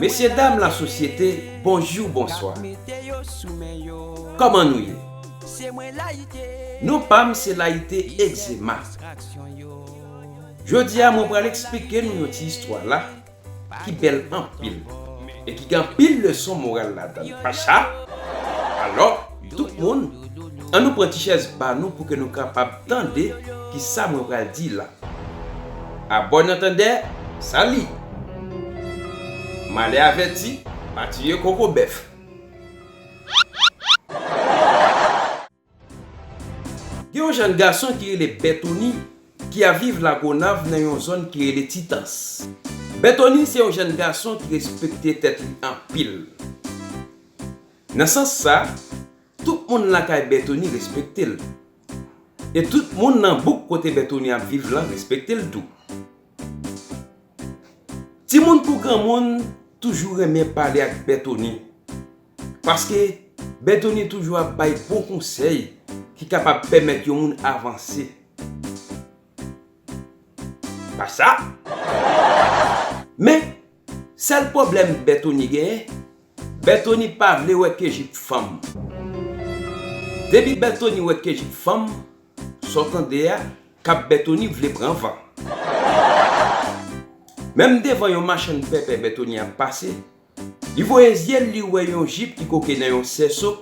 Mesye dam la sosyete bonjou bonswa Koman nou ye Non pam se layite egzema Jodia mwen pral eksplike nou yon ti istwa la ki bèl anpil e ki gen anpil leson moral ladann Pacha alò Tout moun, an nou pran ti chèz pa nou pou ke nou kapab tande ki sa mwen pral di la. A bòn antandè, sa li! Malè avèti, pa tiye koko bèf. Gen yon jèn gason ki rele Bètoni ki ap viv Lagonav nan yon zòn ki rele Titans. Bètoni se yon jèn gason ki respekte tèt li anpil. Nan sans sa, tout moun lakay Bètoni respekte l. E tout moun nan bouk kote Bètoni ap viv lan respekte l tou. Timoun kou granmoun toujou renmen pale ak Bètoni paske Bètoni toujou ap bay bon konsèy ki kapab pèmèt yon moun avanse. Pa sa, men Sèl pwoblèm Bètoni genyen, Bètoni pa vle wè Kejip fanm. Depi Bètoni wè Kejip fanm, sa w tande a, kab Bètoni vle pran van. Menm devan yon machann pèpè Bètoni ap pase, li voye zye l li wè yon jip ki koke nan yon sèso,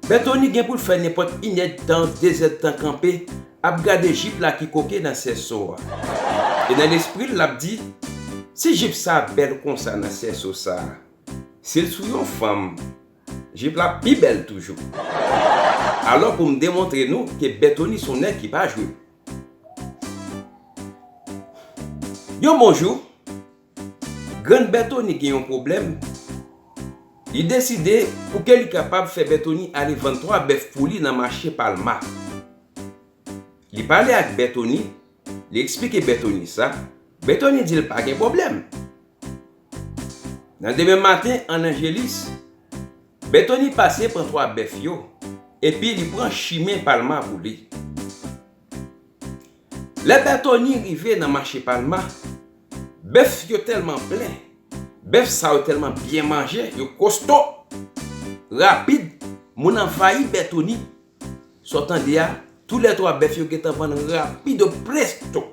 Berthony gen poul fè nenpòt inèdtan dezèdtan kanpe ap gade jip la ki koke nan sèso a e nan lespril lap di si jip sa bèl konsa nan sèso sa sil sou yon fanm jip la ap pi bèl toujou alò poum demontre nou ke Berthony son nèg ki pa jwe yon bon jou Grann Berthony gen yon pwoblèm, li deside pou ke li kapab fè Berthony ale vann 3 bèf pou li nan mache Palma. Li pale ak Berthony, li eksplike Berthony sa, Berthony di l pa gen pwoblèm. Nan demen maten an Angelis, Berthony pase pran 3 bèf yo, epi li pran chimen Palma pou li. Lè Pè Tony rive nan mache Palma, bèf yo tèlman plen, bèf sa yo tèlman byen manje, yo kosto, rapid, moun anvayi Bè Tony. Sa w tande a, tou lè twa bèf yo gentan vann rapido presto.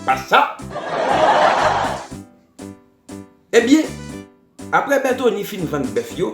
Pa sa? Ebyen, apre Bè Tony fin vann bèf yo,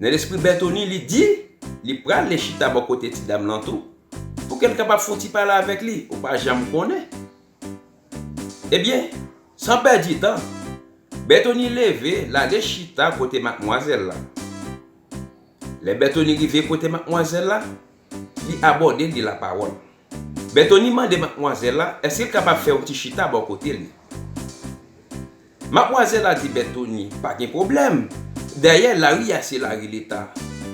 Nan lespri Bètoni li di li prale chita bò kote ti dam lan tou pou ke l kapab fon ti pale avèk li, ou pa janm konnen. Ebyen, san pèdi tan, Bètoni leve l ale chita kote matmwazèl la. Lè Bètoni rive kote matmwazèl la, Li abòde l, li lapawòl. Bètoni mande matmwazèl la èske l kapab fè yon ti chita bò kote li. Matmwazèl la di Bètoni, pa gen pwoblèm, dayè lari a se lari leta,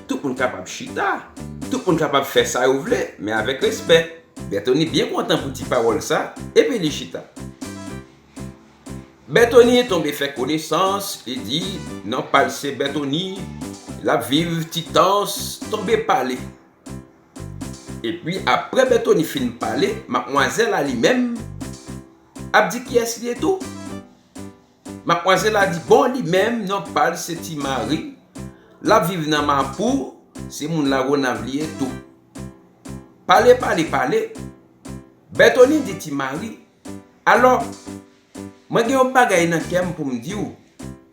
tout moun kapab chita, tout moun kapab fè sa yo vle, men avèk respè. Bètoni byen kontan pou ti pawòl sa, epi li chita. Berthony tonbe fè konesans li di nan paj se Berthony lap viv ti tans tonbe pale epi aprè Berthony fin pale matmwazèl la li menm ap di kiyès li ye tou matmwazèl la di bon li menm nan pal se ti mari lap viv nan mapou se moun la gonav li ye tou pale pale pale Berthony di ti mari Alò, mwen gen yon bagay nan kè m pou m di w,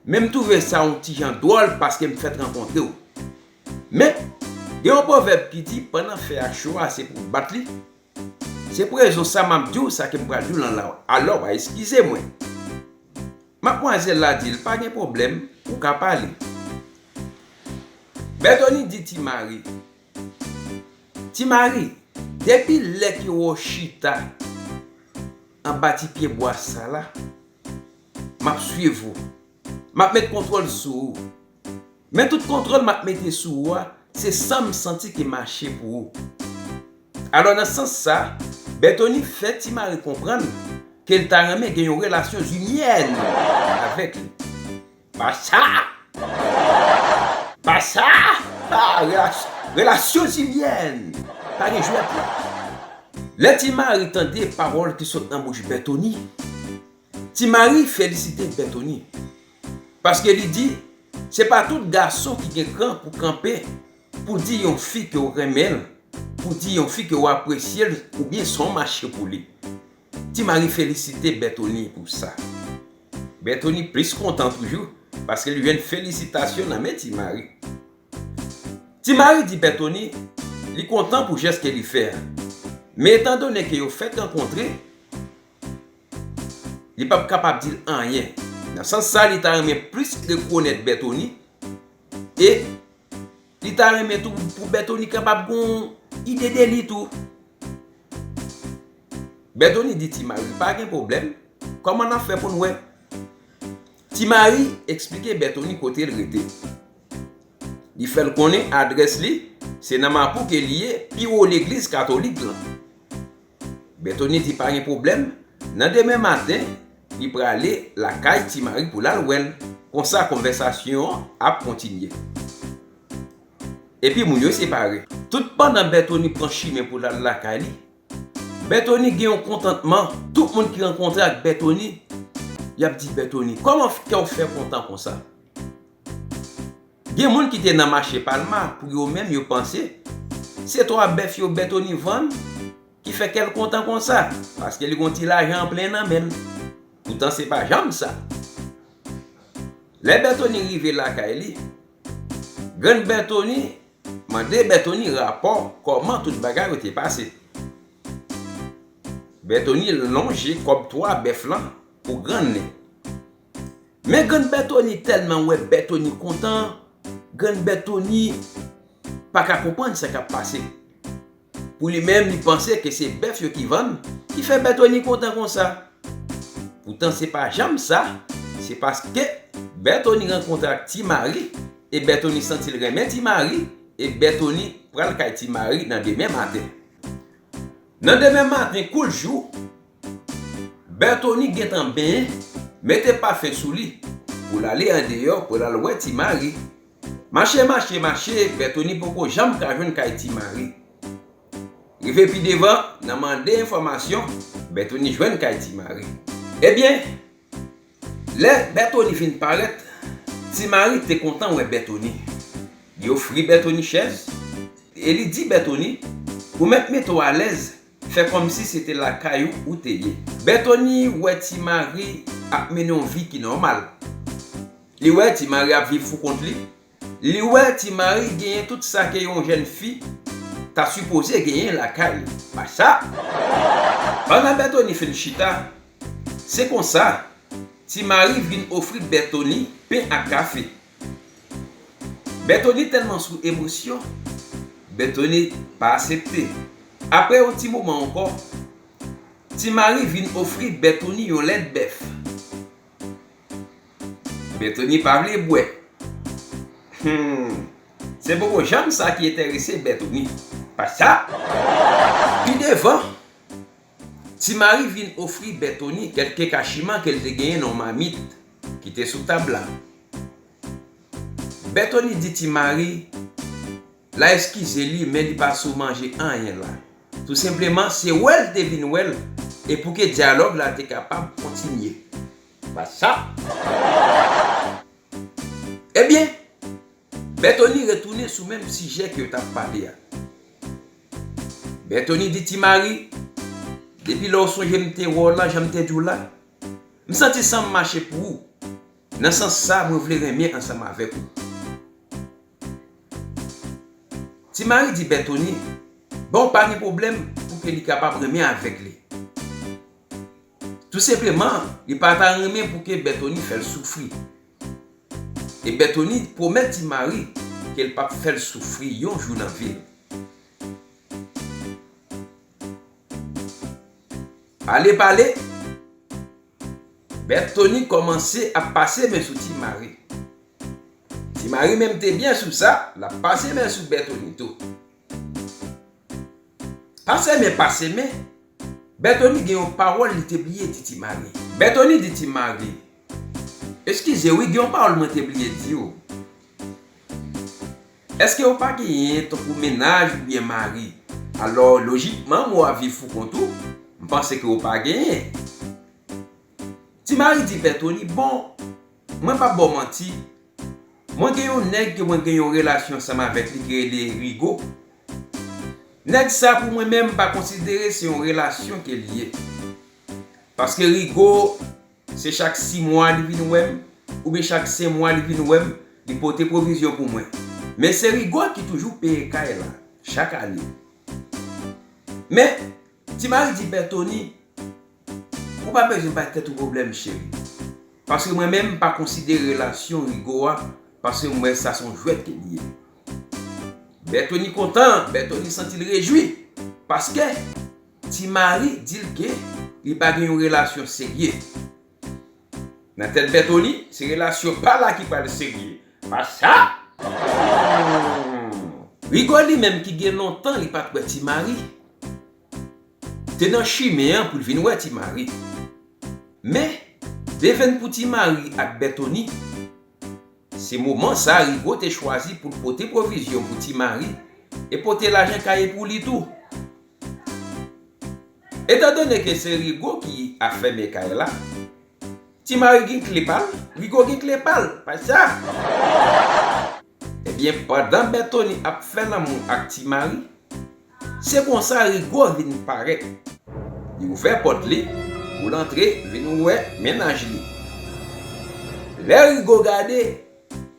men m twouve sa yon ti jan dwòl paske m fèt rankontre w. Men, gen yon pwovèb ki di pandan fè a cho a se pou w bat li. Se pou rezon sa m ap di w sa ke m pral di w lan la w. Alò, w a eskize mwen. Matmwazèl la di l, Pa gen pwoblèm, ou ka pale. Bètoni di Ti Mari, Ti Mari, depi lè ke wè w chita anba ti pye bwa sa la, m ap swiv ou. M ap met kontwòl sou ou. Men tout kontwòl m ap mete sou ou a, se san m santi ki mache pou ou. Alò nan sans sa, Bètoni fè Ti Mari konprann ke l ta renmen gen yon relasyon zinyèn avèk li. Pasa! Pasa! Relasyon zilyèn! Pa gen jwèt la! Lè Ti Mari tande pawòl ki sot nan bouch Bètoni, Ti Mari felisite Bètoni. Paske li di, se pa tout gason ki gen kran pou kanpe pou di yon fi ke w renmen l, pou di yon fi ke w apresye l oubyen son mache pou li. Ti Mari felisite Bètoni pou sa. Bètoni plis kontan toujou paske li jwenn felisitasyon nan men Ti Mari. Ti Mari di Bètoni li kontan pou jès ke li fè a, men etan done ke yo fèk rankontre, li pap kapab di l anyen. Nan sans sa li ta renmen plis rekonèt Bètoni e. Li ta renmen tou pou Bètoni kapab gon ide de li tou. Bètoni di Ti Mari, pa gen pwoblèm, kòman n ap fè pou n wè? Ti Mari eksplike Bètoni kote l rete. Li fè l konnen adrès li se nan Mapou ke li ye, pi wo legliz katolik lan. Bètoni di pa gen pwoblèm, nan demen maten, li prale lakay Ti Mari pou l al wè l. Konsa konvèsasyon an ap kontinye. Epi moun yo separe. Toutpandan Bètoni pran chimen pou l al lakay li, Bètoni gen yon kontantman. Tout moun ki rankontre ak Bètoni, y ap di Bètoni, Kòman kè w fè kontan konsa? Gen moun ki te nan mache Palma pou yo menm yo panse se 3 bèf yo Bètoni vann ki fè kè l kontan konsa paske li gon ti lajan an plen nan men l. Poutan se pa janm sa. Lè Bètoni rive lakay li, grann Bètoni mande Bètoni rapò kòman tout bagay yo te pase. Bètoni lonje kòb 3 bèf lan pou grann li. Men grann Bètoni tèlman wè Bètoni kontan, grann Bètoni pa ka konprann sa k ap pase. Pou li menm, li panse ke se bèf yo ki vann ki fè Bètoni kontan konsa. Poutan se pa janm sa, se paske Bètoni rankontre ak Ti Mari e Bètoni santi l renmen Ti Mari e Bètoni pral kay Ti Mari nan demen maten. Nan demen maten kou l jou, Berthony gentan benyen mete pafen sou li pou l ale andeyò pou l al wè Ti Mari. Mache mache mache Berthony poko janm ka jwenn kay Ti Mari. Rive pi devan nan mande enfòmasyon Berthony jwenn kay Ti Mari. Ebyen lè Berthony vin parèt Ti Mari te kontan wè Berthony. Li ofri Berthony chèz e li di Berthony ou mèt mete w alèz Fè kòmsi se te lakay ou ou te ye. Bètoni wè Ti Mari ap mennen yon vi ki nòmal. Li wè Ti Mari ap viv pou kont li. Li wè Ti Mari genyen tout sa ke yon jèn fi ta sipoze genyen lakay li. Pa sa! Pandan Bètoni fin chita, se konsa Ti Mari vin ofri Bètoni pen ak kafe. Berthony tèlman sou emosyon, Berthony pa asepte. Aprè yon ti moman ankò, Ti Mari vin ofri Berthony yon lèt bèf. Berthony pa vle bwè. Humm! Se bobo janm sa ki enterese Berthony. Pa sa! Pi devan, Ti Mari vin ofri Berthony kèlke kachiman ke l te genyen nan yon mamit. Ki te sou tab la. Bètoni di ti Mari la eskize li men li pa sou manje anyen la. Tou senpleman se wè l te vin wè l e pou ke dyalòg la te kapab kontinye. Ba sa. Ebyen, Bètoni retounen sou menm sijè ke yo t ap pale a. Bètoni di ti Mari, depi lè ou sonje m te wè w lan jan m te di w la, M santi san m mache pou ou. Nan sans sa mwen vle renmen ansanm avèk ou. Ti Mari di Bètoni, Bon w pa gen pwoblèm pou ke li kapab renmen avèk li. Tou senpleman, li pa ta renmen pou ke Bètoni fè l soufri. E Bètoni pwomèt Ti Mari ke l p ap fè l soufri yon jou nan vi l. Pale pale, Bèt Toni kòmanse ap pase men sou Ti Mari. Ti Mari menm te byen sou sa, l ap pase men sou Bèt Toni tou. Pase men pase men, Bèt Toni gen yon pawòl li te bliye di Ti Mari. Bèt Toni di Ti Mari, Eskize wi gen yon pawòl mwen te bliye di ou. Èske ou pa genyen tankou mennaj oubyen mari? Alò lojikman ou ap viv pou kont ou? M panse ke ou pa genyen. Ti Mari di Pè Toni, Bon, mwen p ap ba w manti, mwen gen yon nèg ke mwen gen yon relasyon ansanm avèk li ki rele Rigo. Nèg sa pou mwen menm m pa konsidere se yon relasyon ke li ye. Paske Rigo Se chak si mwa li vin wè m, oubyen chak sen mwa li vin wè m, li pote pwovizyon pou mwen. Men se Rigò ki toujou peye kay la, chak ane. Men, Ti Mari di Pè Toni, Ou pa bezwen bay tèt ou pwoblèm, cheri. Paske mwen menm m pa konsidere relasyon Rigò a, paske m wè sa s on jwèt ke li ye. Bè Toni kontan, Bè Toni santi l rejwi, paske Ti Mari di l gen li pa gen yon relasyon serye. Nan tèt Bètoni, se relasyon pa la ki pral serye. Pa sa! Rigo li menm ki gen lontan li pa t wè Ti Mari, te nan chimen an pou l vin wè Ti Mari. Men, devenn pou Ti Mari ak Bètoni, se moman sa a Rigo te chwazi pou l pote pwovizyon pou Ti Mari e pote lajan kaye pou li tou. Etan done ke se Rigo ki ap fèmen kay la, Ti Mari gen kle pa l, Rigo gen kle pa l, pa sa? Ebyen, pandan Bètoni ap fè lanmou ak Ti Mari, se konsa Rigo vin parèt. Li ouvè pòt li pou l antre vin wè mennaj li. Lè Rigo gade,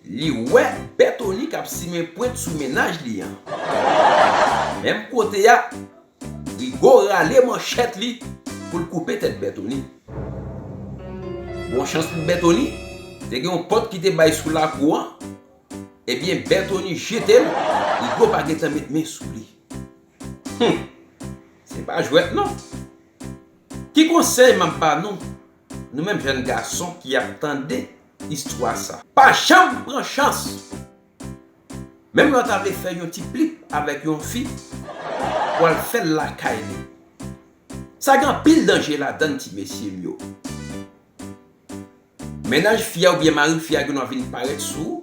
Li wè Bètoni k ap simen pwent sou mennaj li an. Menm kote a, Rigo rale manchèt li pou l koupe tèt Bètoni. Bon chans pou Bètoni, te gen yon pòt ki te bay sou lakou an. Ebyen Bètoni jete l, Rigo pa gen tan met men sou li. Hum! Se pa jwèt non! Ki konsèy m ap ba nou? Nou menm jèn gason ki ap tande istwa sa. Pa janm pran chans! Menm lè w ta vle fè yon ti plip avèk yon fi, w al fè l lakay li. Sa gen anpil danje ladann ti mesye m yo. Mennaj fi a oubyen mari fi a gendwa vin parèt sou ou.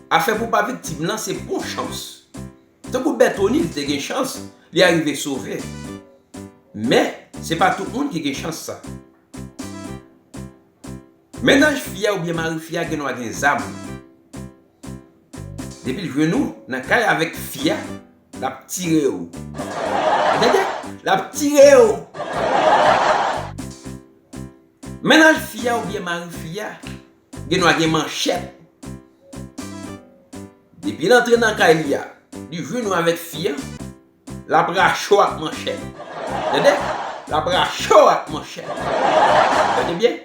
Afè pou w pa viktim lan se bon chans Tankou Bètoni, li te gen chans, li arive sove. Men, se pa tout moun ki gen chans sa. Mennaj fi a oubyen mari fi a gen dwa gen zam. Depi l jwenn ou nan kay avèk fi a, l ap tire ou. Ou tande? L ap tire ou! Mennaj fi a oubyen mari fi a Gen dwa gen manchèt. Depi l antre nan kay li a, li jwenn ou avèk fi a, l ap rache w ak manchèt. Tande! L ap rache w ak manchèt. Tande byen!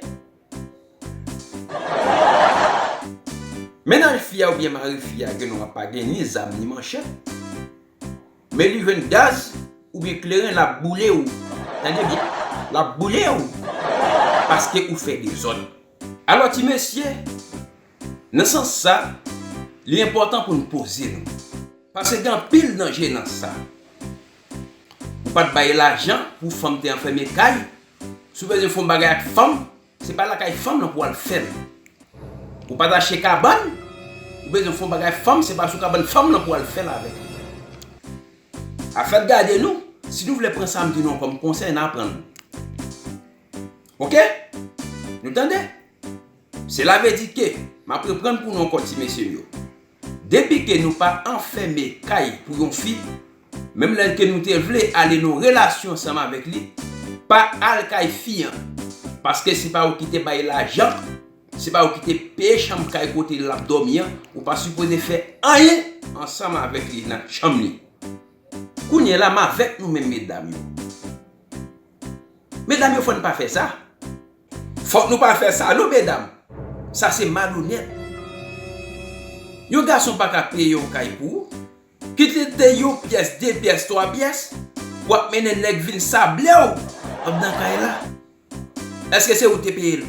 Mennaj fi a oubyen mari fi a gen dwa pa gen ni zam ni manchèt. Meli jwenn gaz oubyen kleren lap boule ou tande byen lap boule ou paske ou fè dezòd alò ti mesye nan sans sa li enpòtan pou n poze nou paske gen anpil danje nan sa ou pat bay lajan pou fanm te anfème kay si w bezwen fon bagay ak fanm Se pa lakay fanm lan pou al fèl. Ou pat achte kabann, ou bezwen fon bagay fanm se pa sou kabann fanm lan pou al fèl avèk li. Afèt gade nou, si nou vle pran sam di nou an kòm konsèy na pran nou. Ok! Nou tande? Sela vle di ke, map reprann pou nou ankò ti mesyem yo. Depi ke nou pa anfème kay pou yon fi, menm lè ke nou te vle ale nan relasyon ansanm avèk li, pa al kay fi an, paske se pa ou ki te bay lajan, se pa ou ki te peye chanm kay kote lap dòmi an, ou pa sipoze fè anyen ansanm avèk li nan chanm li. Kounye la m avèk nou menm medam yo. Medam yo fò n pa fè sa. Fòk nou pa fè sa non medam sa se malonèt yon gason paka peye yon kay pou ou kit li te yon pyès de pyès twa pyès wap mennen nèg vin sablew andan kay la èske se ou te peyel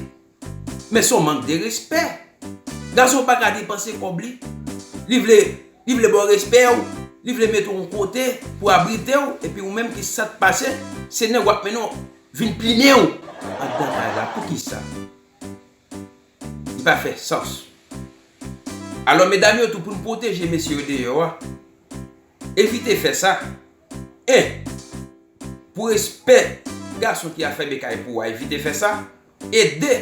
men son mank de respè gason paka depanse kòb li li vle li vle baw respè ou li vle met ou yon kote pou abritew epi ou menm ki sat pase se nèg wap mennen Vin plimen w andan kay la poukisa? Li pa fè sans. Alò medam yo tou pou n pwoteje mesye yo deyò a, evite fè sa. 1, Pou respè gason ki afèmen kay pou ou a evite fè sa e 2,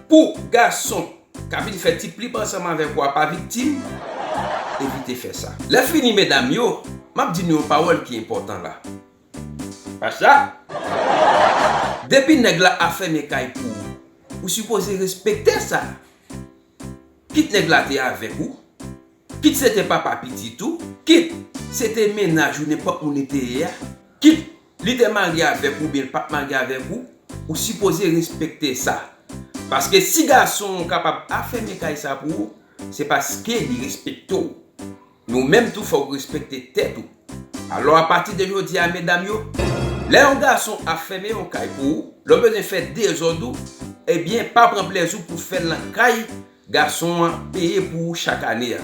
Pou gason k ap vin fè ti plib ansanm avèk ou a pa viktim, evite fè sa. Lè fini medam yo, m ap di nou yon pawòl ki enpòtan la. Pasta! Depi nèg la ap fèmen kay pou ou, ou sipoze respekte sa! Kit nèg la te avèk ou, kit se te papa pitit ou, kit se te mennaj ou nenpòt moun li te ye a, kit li te marye avèk ou oubyen li pat marye avèk ou, ou sipoze respekte sa! Paske si gason an kapab ap fèmen kay sa pou ou, se paske li respekte w! Men ou menm tou fòk ou respekte tèt ou. Alò a pati de jodi a medam yo, lè yon gason ap fèmen yon kay pou ou, lè w bezwen fè dezòd ou, ebyen pa pran plèzi w pou fè l nan kay gason an peye pou ou chak ane a.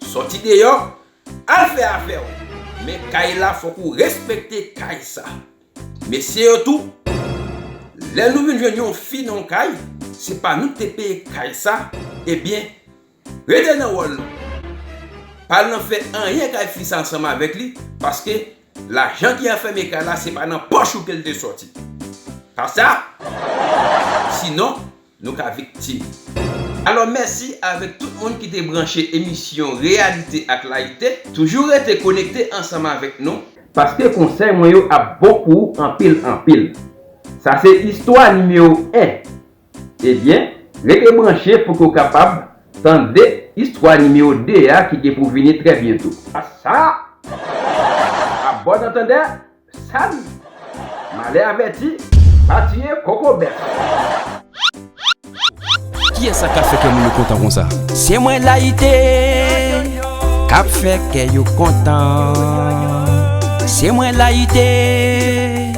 Sòti deyò, al fè afè w, men kay la fòk ou respekte kay sa. Mesye yo tou, lè nou vin jwenn yon fi nan yon kay, se pa nou ki te peye kay sa, ebyen Rete nan wòl ou. Pa al nan fè anyen kay fi sa ansanm avèk li paske lajan ki anfème kay la se pa nan pòch ou ke l te sòti. Pa sa? Sinon, nou ka viktim. Alò mèsi avèk tout moun ki te branche emisyon Reyalite ak Layite. Toujou rete konekte ansanm avèk nou. Paske konsèy mwen yo ap bon pou ou anpil anpil. Sa se istwa nimewo 1 Ebyen, rete branche pou ke w kapab tande istwa nimewo 2 a ki gen pou vini trè byento. A sa! A bòn antandè, sali! Malè avèti, pa tiye koko bèf! Kiyès sa kap fè kè moun yo kontan konsa? Se mwen Layite kap fè kè yo kontan Se mwen Layite.